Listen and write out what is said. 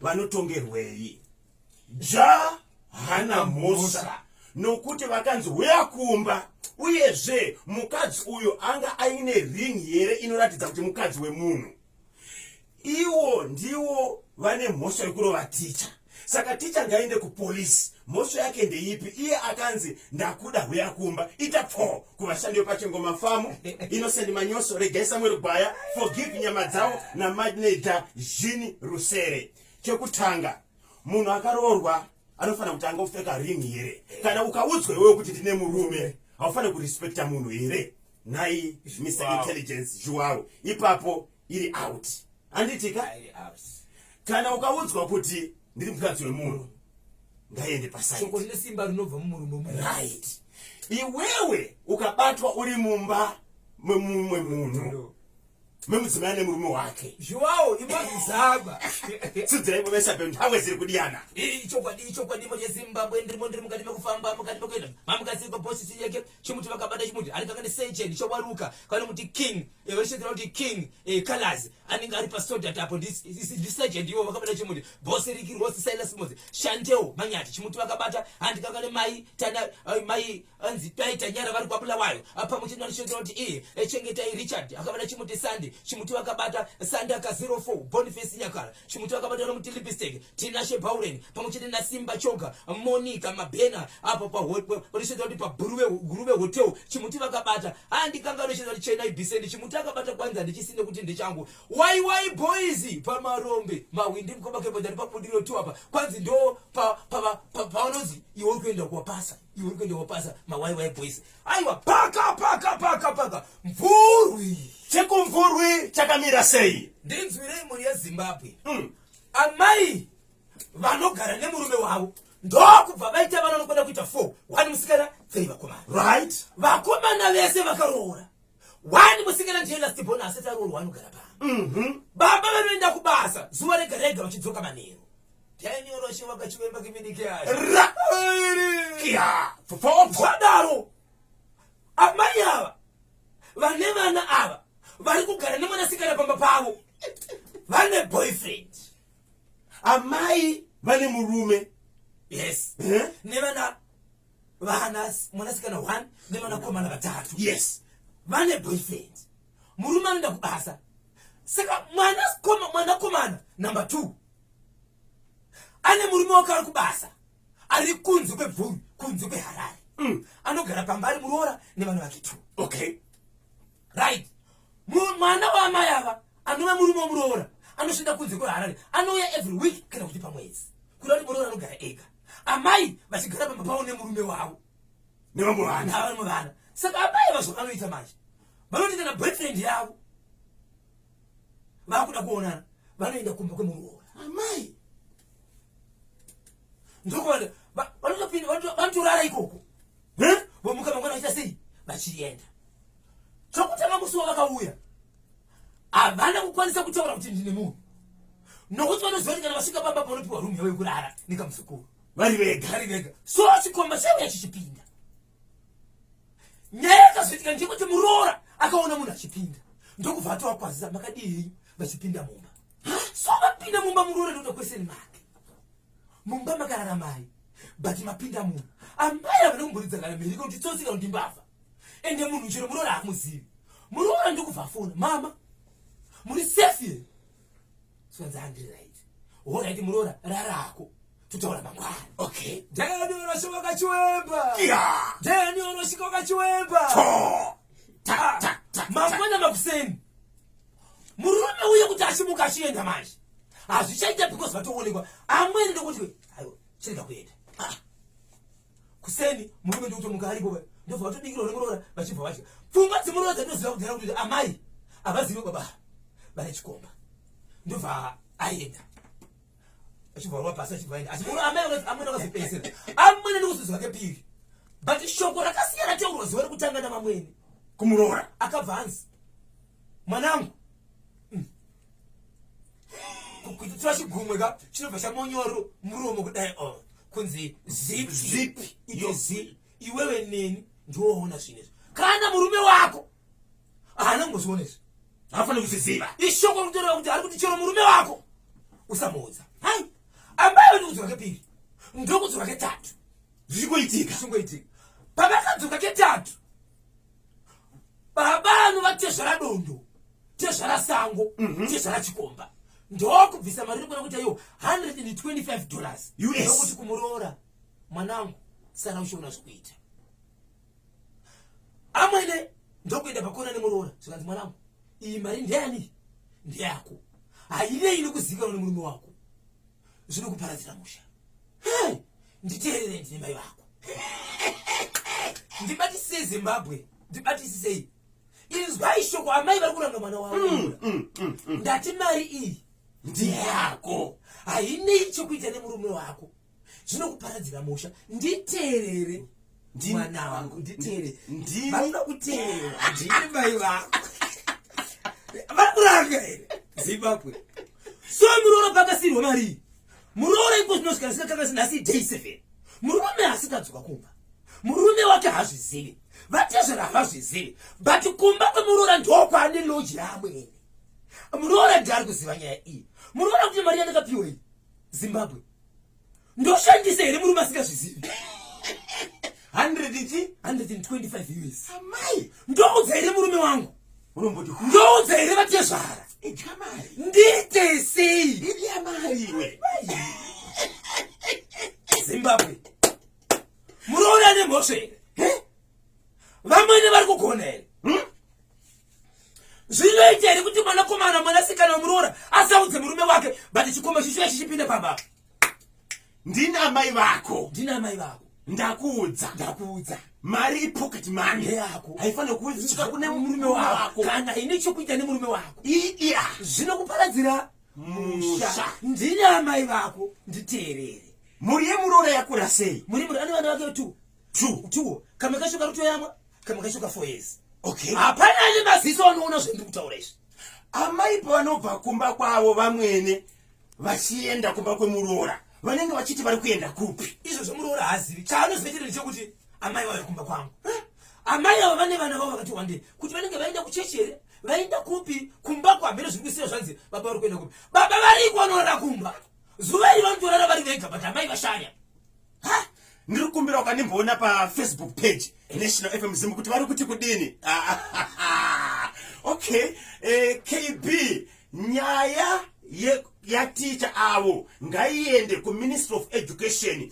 vanotongerwei ja hana mhosva nokuti vakanzi huya kumba uyezve mukadzi uyo anga aine ring here inoratidza kuti mukadzi wemunhu iwo ndiwo vane mhosva yekurova ticha saka ticha ngaende kupolisi mhosva yake ndeipi iye akanzi ndakuda huya kumba ita pfoo kuvashandi vepachengoma famu inosendi manyoso regai samuel gwaya forgive nyama dzavo namadneja zhini rusere chekutanga munhu akaroorwa anofanira kuti anga kupfeka ring here kana ukaudzwa iwewe kuti ndine murume haufanire kurespekta munhu here nhai mr intelligence zhuwaro ipapo iri out handiti ka kana ukaudzwa kuti ndiri mukadzi wemunhu ngaiende pasaiko rine simba rinobva mumurume mu right iwewe ukabatwa uri mumba memumwe munhu memudzimai nemurume wake zviwawo imazvizaba sidzai mumesa pe nthawe ziri kudiyana ichokwadi ichokwadi moje zimbabwe ndirimo ndiri mukati mekufamba mukati mekuenda mamukaziri papositi yake chimuti vakabata chimuti ari kangani secheni chowaruka kana kuti king eh, vachitedzera kuti king eh, colors anenge ari pasodat apo ndisagent ivo vakabata chimuti bose riki rose silas mozi shantewo manyati chimuti vakabata handi kangani mai tana eh, mai anzi pai tanyara vari kwabulawayo pamwe chete vachitedzera kuti iye chengetai richard akabata chimuti sande chimuti vakabata sande aka 04 boniface nyakara Chimuti vakabatwa nomuti Lipstick, Tinashe Bauren pamwe chete naSimba Choga, Monica Mabhena apo panoshedzwa kuti paGuruve Hotel Chimuti vakabata. Haa ndikanga anoshedza kuti Chenai Biseni Chimuti akabata kwanzi handichisine kuti ndichangu. Wai wai boys pamarombe mahwindi mukoma kebodha nepabudiro tu apa kwanzi ndo pavanonzi iwe uri kuenda kuwapasa iwe uri kuenda kuwapasa mawai wai boys Aiwa paka paka paka paka mvurwi. Chekumvurwi chakamira sei? Ndinzwirei mhuri yeZimbabwe. Mm. Amai vanogara nemurume wavo ndokubva vaita vana vanokwenda kuita four one musikana three vakomana right vakomana vese vakaroora wani musikana ndiye last born asati aroorwa anogara pano mhm. baba vanoenda kubasa zuva rega rega vachidzoka manheru tiainyoroshe vakachivemba kiminike ayoadaro amai ava vane vana ava vari kugara nemwanasikana pamba pavo vane boyfriend amai vane murume yes eh? nevana vana mwanasikana one nevanakomana vatatu yes vane boyfriend murume anoenda kubasa saka mwanakomana number two ane murume wake ari kubasa ari kunze kwebvuru kunze kweharare mm. anogara pamba ari muroora nevana vake two okay right mwana waamai ava anova murume womuroora anoshanda kunze kweharare anouya every week kana kuti pamwedzi kuda kuti muroora anogara ega amai vachigara pamba pavo nemurume wavo nevamwe vana vamwe vana saka amai vazvakanoita manje vanoti kana boyfriend yavo vakuda kuonana vanoenda kumba kwemuroora amai ndokuona vanotopinda vanotorara ikoko vomuka mangwana vachiita sei vachienda Chokutanga musi wavakauya havana kukwanisa kutaura kuti ndine munhu nokuti vanoziva kuti kana vasvika pamba panopiwa rumu yavo yekurara nekamuzukuru vari vega vari vega so chikomba chauya chichipinda nyaya yakazoitika ndekuti muroora akaona munhu achipinda ndokubva atovakwazisa makadii vachipinda mumba so vapinda mumba muroora ndoda kweseni make mumba makarara mai but mapinda munhu amai havana kumboridza kana mhiriko kuti tsotsika kuti mbavha ende munhu chero muroora hamuzivi muroora ndikubva fona mama muri safe here sikanzi handiri right horaiti muroora rarako tutaura mangwana okay ndani unosvika wakachiwemba ndani unosvika wakachiwemba mangwana makuseni murume uye kuti achimuka achienda manje hazvichaita because vatoonekwa amweni ndokuti aiwa chirega kuenda ah. kuseni murume ndikutomuka aripo vaye ndobva vatobikirwa nemuroora vachibva vadya pfungwa dzemuroora dzatinoziva kudhara kuti amai havazive baba vane chikomba ndobva aenda achibva rova pasi achibva aenda asi muno amai amwene akazopedzisira amwene ndikuzozwa kepiri but shoko rakasiyana teurwa zuva rekutanga namamwene kumuroora akabva anzi mwanangu kutotora chigumwe ka chinobva chamonyoro muromo kudai o oh, kunzi zipi yozi iwewe neni ndioona zvinezvi kana murume wako haana kumboziona izvi haafanira kuziziva ishoko rikutoreva kuti ari kuti chero murume wako usamuudza hai ambayo ndikudzoka kepiri ndokudzoka ketatu zvichingoitika zvichingoitika pavakadzoka ketatu baba anovatezvara dondo tezvara sango mhm. tezvara chikomba ndokubvisa mari rikona kuti ayo 125 dollars yokuti kumuroora mwanangu sara uchiona zvekuita amwene ndokuenda pakona nemuroora zvikanzi mwanangu iyi mari ndeyani ndeyako hainei nekuzivikanwa nemurume wako zvino kuparadzira musha nditeerere ndine mai vako ndibatisisei zimbabwe ndibatisisei inzwai shoko amai vari kuranga mwana wavo mm, mm, mm, mm. ndati mari iyi ndiyako hainei chokuita nemurume wako zvinokuparadzira musha nditeerere mwana wangu nditeerere vanoda kuteerera ndini mai vako vari kuranga here zimbabwe so muroora pakasirwa mari iyi muroora ipo zvinosvika zvikakakasi nhasi day seven murume asikadzoka kumba murume wake hazvizivi vatezvera havazvizivi but kumba kwemuroora ndokwaane loji yaamwene muroora ndiari kuziva nyaya iyi muroora kuti mari yandakapiwa iyi zimbabwe ndoshandisa here murume asingazvizivi 125 us amai ndoudza here murume wangu unomboti ndoudza here vatezvara idya mari ndiite sei idya mari iwe zimbabwe muroora ane mhosva here vamwene vari kugona here hm? zvinoita here kuti mwanakomana mwanasikana wemuroora asaudze murume wake but chikomba chichiya chichipinde pamba ndini amai vako ndini amai vako ndakuudza ndakuudza mari ipocket mani yako haifanira kuudzika kune murume wako kana ine chokuita nemurume wako iya zvinokuparadzira musha ndini amai vako nditeerere mhuri yemuroora yakura sei muri muri ane vana vake two two two kamwe kacho kari kutoyamwa kamwe kacho ka four years okay hapana ane maziso anoona zvendiri kutaura izvi amai pavanobva kumba kwavo vamwene vachienda kumba kwemuroora vanenge vachiti vari kuenda kupi izvo zvomuroora haazivi chaanozivetera ndechekuti amai vauya kumba kwangu amai avo vane vana vavo vakati wandei kuti vanenge vaenda kuchechi here vaenda kupi kumba kwamene zviri kusiya zvanzi baba vari kuenda kupi baba variko vanorara kumba zuva iri vanotorara vari vega but amai vashaya ha ndiri kukumbira ukandimboona pafacebook page national fm zim kuti vari kuti kudini okay eh, kb Nyaya yaticha avo ngaiende kuministry of education.